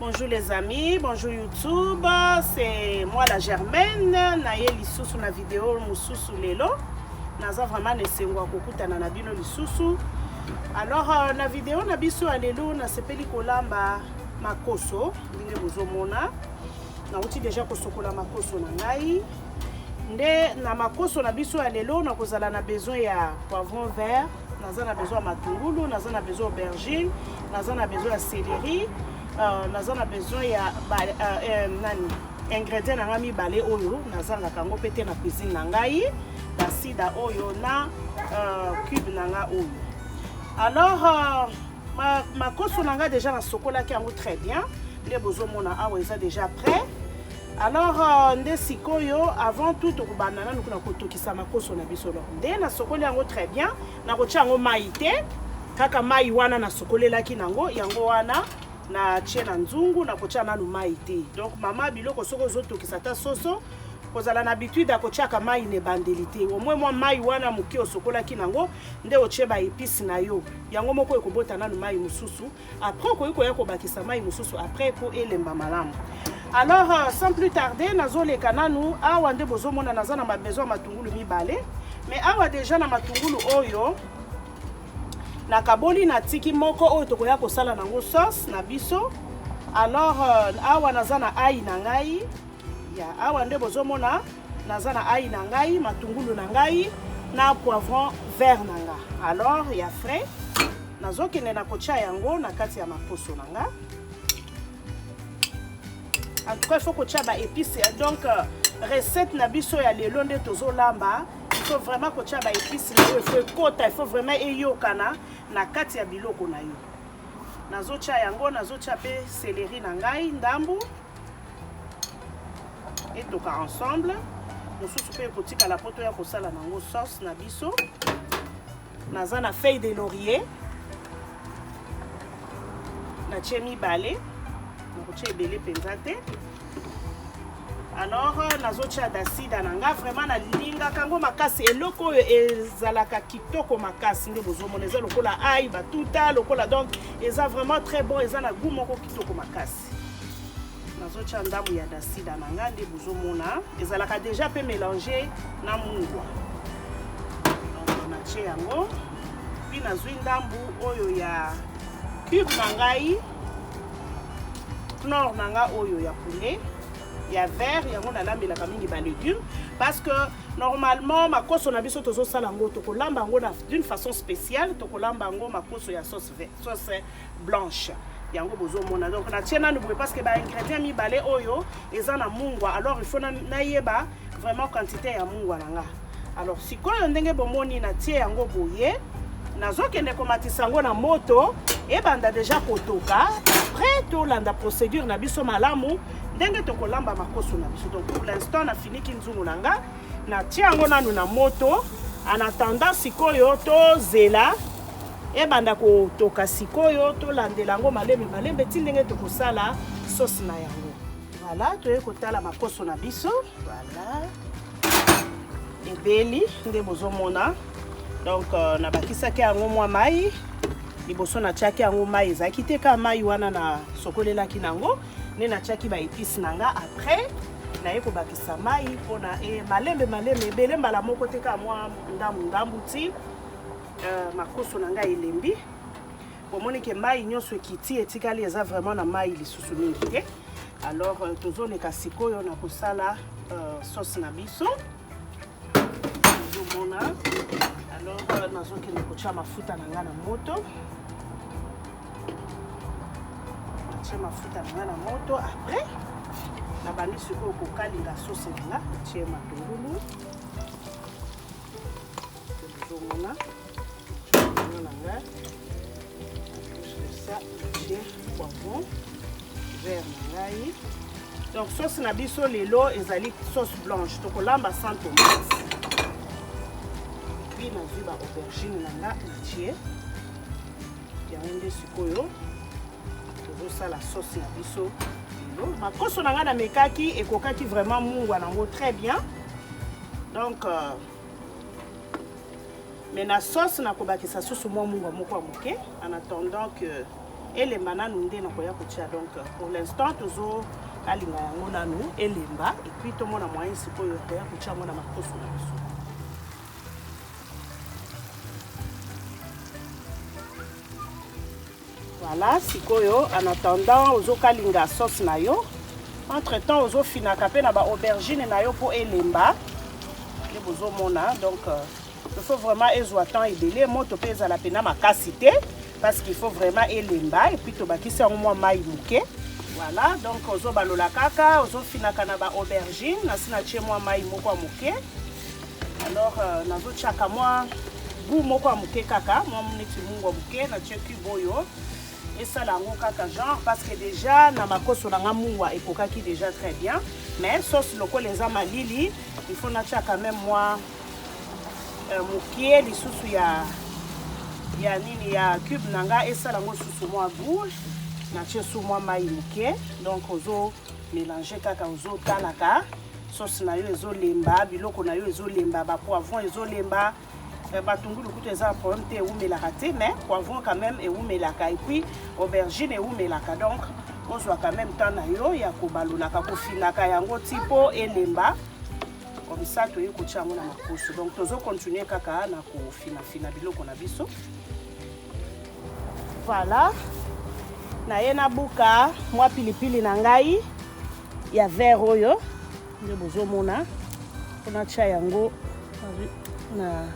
Bonjour les amis, bonjour YouTube, c'est moi la Germaine, naye lisusu na video mususu lelo. Naza vraiment nesengo kokutana na bino lisusu. Alors euh, na video na biso ya lelo nasepeli kolamba makoso ndenge bozomona. Nauti deja kosokola makoso na ngai. Nde na makoso na biso ya lelo nakozala na besoin ya poivron vert naza na besoin ya matungulu naza na besoin aubergine naza na besoin ya céleri euh, naza na besoin ya euh, euh, nani ingrédient na ngai mibale oyo nazangaka yango mpe te na cuisine na ngai basida oyo na cube na ngai oyo alors makoso na ngai déjà nasokolaki yango très bien nde bozomona awa eza déjà prêt alors euh, nde sikoyo avant tout tokobanda nanu kuna kotokisa makoso na biso donc nde nasokoli yango très bien nakotya yango mai te kaka mai wana nasokolelaki nango yango wana natie na nzungu nakotya nanu mai te donc mama biloko soki ozotokisa ata soso kozala na habitude ya kotyaka mai na ebandeli te omwe mwa mai wana moke osokolaki nango nde otye baepise na yo yango moko ekobota nanu mai mosusu après okoki koya kobakisa mai mosusu après mpo elemba malamu alors euh, sans plus tarder nazoleka nanu awa nde bozomona naza na mabesoin ya matungulu mibale mais awa deja na matungulu oyo nakaboli natiki moko oyo tokoya kosala nango sauce na biso alors euh, awa naza na ai na ngai ya awa nde bozomona naza na ai na ngai matungulu na ngai na poivron vert na nga alors ya frais nazokende na kotya yango na kati ya maposo na nga en tout cas il faut kotya ba épice donc euh, recette na biso ya lelo nde tozolamba il faut vraiment kotya ba épice na yo il faut ekota il faut vraiment eyokana na kati ya biloko na yo nazotya yango nazotya mpe céleri na ngai ndambu etoka ensemble mosusu mpe ekotikala mpo toya kosala nango sauce na biso naza na feuille de laurier natie mibale nakotia ebele mpenza te alors euh, nazotia dasida na nga vraiment nalingaka yango makasi eloko oyo ezalaka kitoko makasi nde bozomona eza lokola ai batuta lokola donc eza vraiment très bon eza na gout moko kitoko makasi nazotya ndambo ya dasida na ngai nde bozomona ezalaka deja mpe mélange na mungwa natye yango mpi nazwi ndambo oyo ya cube na ngai clor na ngai oyo ya poulet ya vert yango nalambelaka mingi balegume parce que normalement makoso na biso tozosala yango tokolamba yango d'une façon spéciale tokolamba yango makoso ya sauce, sauce blanche yango bozomona donc natie nanu boye parce que ba ingrédients mibale oyo eza na mungwa alors il faut nayeba vraiment quantité ya mungwa na nga alors sikoyo ndenge bomoni natie yango boye nazokende komatisa yango na moto ebanda deja kotoka après tolanda procédure na biso malamu ndenge tokolamba makoso na biso donc pour l'instant nafiniki nzungu na nga natie yango nanu na moto en attendant sikoyo tozela Ebanda kotoka sikoyo, tolandela yango malembe malembe ti ndenge tokosala sauce na yango. Voilà, toye kotala makoso na biso. Voilà. Ebeli nde bozomona. Donc euh, nabakisaki yango mwa mai liboso natiaki yango mai ezalaki te kaka mai wana nasokolelaki na yango nde natiaki baepice na nga après naye kobakisa mai mpona e, malembe malembe ebele mbala moko te kaka mwa ndambu ndambu ti Euh, makoso na ngai elembi bomoni ke mai nyonso ekiti etikali eza vraiment na mai lisusu mingi te alors euh, tozoleka sikoyo na kosala euh, sauce na biso tozomona alors euh, nazokende kotya mafuta na ngai na moto natye mafuta na ngai na moto après nabandi sikoyo kokalinga sauce na nga natye matungulu donc sauce na biso lelo ezali sauce blanche tokolamba sans tomate puis nazwi ba aubergine na nga natie yango nde sikoyo tozosala sauce na biso lelo makoso na ngai namekaki ekokaki vraiment mungwa nango très bien donc euh, me na sauce nakobakisa susu mwa mungwa moko ya moke en attendant que elemba nanu nde nakoya kotia donc euh, pour l'instant tozo alinga yango nanu elemba epuis tomona moyen sikoyo toya kotia yango na makoso na biso Voilà, sikoyo en attendant ozo kalinga sauce na yo. Entre temps ozo finaka pe na ba aubergine na yo po elemba. Nde bozo mona donc euh, il faut vraiment ezwa temps ebele moto pe ezala pena makasi te parce qu'il faut vraiment elemba et puis tobakisi yango mwa mai moke. Voilà, donc ozo balola kaka, ozo finaka na ba aubergine, nasi na tie mwa mai moko ya moke. alors euh, nazotiaka mwa gout moko ya moke kaka mwa neti mungu ya moke natie cube oyo esala yango kaka genre parce que déjà na makoso na nga mungwa ekokaki déjà très bien mais sauce lokola eza malili il faut natia quand même mwa euh, mokie lisusu ya ya nini ya cube na nga esala yango susu mwa gout natie su mwa mai moke donc ozo mélange kaka ozotalaka sauce na yo ezolemba biloko na yo ezolemba ba poivron ezolemba eh, batungulu kutu eza problème te ewumelaka te mais poivron quand même ewumelaka et puis aubergine ewumelaka donc ozwa quand même temps na yo ya kobalolaka kofinaka yango ti mpo elemba comme ça toyei kotya yango na makoso donc tozo continue kaka na kofinafina biloko na biso voilà naye nabuka mwa pilipili na ngai ya vert oyo nde bozomona mpona tya yango na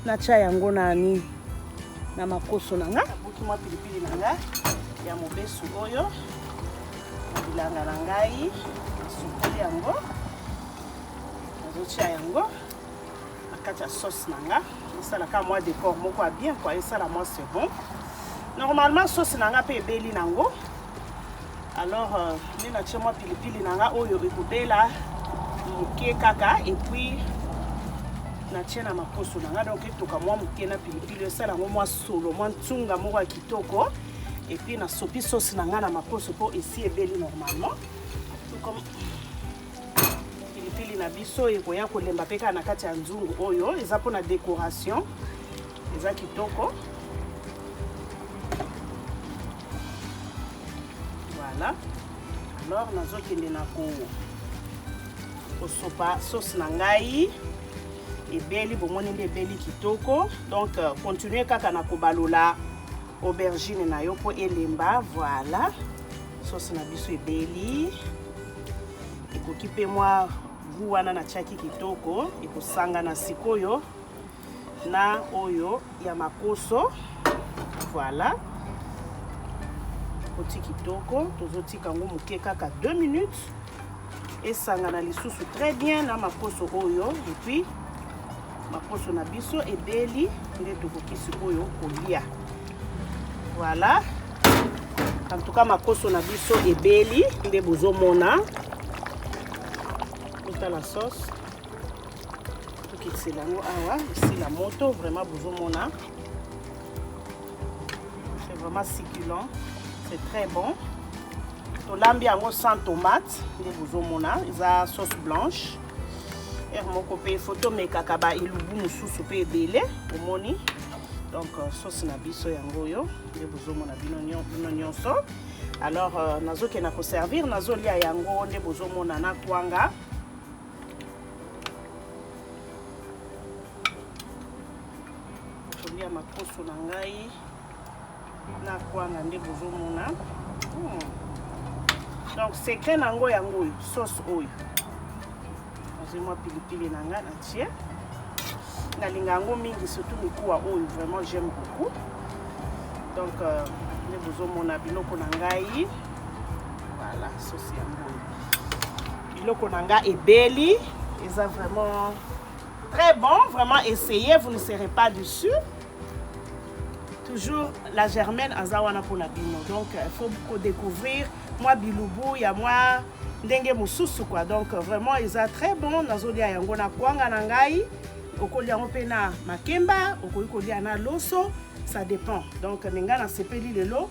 natya yango na nini na makoso na nga nabuki mwa pilipili na nga ya mobesu oyo na bilanga na ngai nasukoli yango nazotya yango na kati ya sauce na nga esalaka mwa decor moko ya bien kua esala mwa second normalement sauce na nga mpe ebeli nango Alors, euh, nde natie mwa pilipili na nga oyo ekobela moke kaka epuis natie na makoso na nga donc etoka mwa moke na pilipili esala yango mwa solo mwa ntunga moko ya kitoko epuis nasopi sosi na nga na makoso mpo esi ebeli normalement comme pilipili na biso ekoya kolemba mpe kaka na kati ya nzungu oyo eza mpona décoration eza kitoko voilà alors nazokende na ko kosopa sauce na ngai ebeli bomoni nde ebeli kitoko donc euh, continue kaka na kobalola aubergine na yo mpo elemba voilà sauce na biso ebeli ekoki mpe mwa gu wana natiaki kitoko ekosangana sikoyo na oyo ya makoso voilà oti kitoko tozotika yango moke kaka 2 minutes esangana lisusu très bien na makoso oyo epuis makoso na biso ebeli nde tokoki sikoyo kolia voilà en tout cas makoso na biso ebeli nde bozomona otala sauce tokitsela yango awa esila moto vraiment bozomona c'est vraiment succulent c'est très bon tolambi yango sans tomate nde bozomona eza sauce blanche heure moko mpe faut tomekaka ba elubu mosusu mpe ebele omoni donc euh, sauce na biso yango oyo nde bozomona bino nyonso alors euh, nazokenda koservir nazolia yango nde bozomona na kwanga tolia makoso na ngai na kwanga nde bozomona hmm. donc secret na yango yango oyo sauce oyo nazwi mwa pilipili na ngai na tie nalinga yango mingi surtout mikuwa oyo vraiment j'aime beaucoup donc euh, nde bozomona biloko na ngai voilà sosi yango oyo biloko na nga ebeli eza vraiment très bon vraiment essayez vous ne serez pas dessus toujours la germaine aza wana mpona bino donc il euh, faut kodécouvrir mwa bilubu ya mwa ndenge mosusu quoi donc euh, vraiment eza très bon nazolia yango na kwanga na ngai okolia yango mpe na makemba okoki kolia na loso ça dépend donc me ngai nasepeli lelo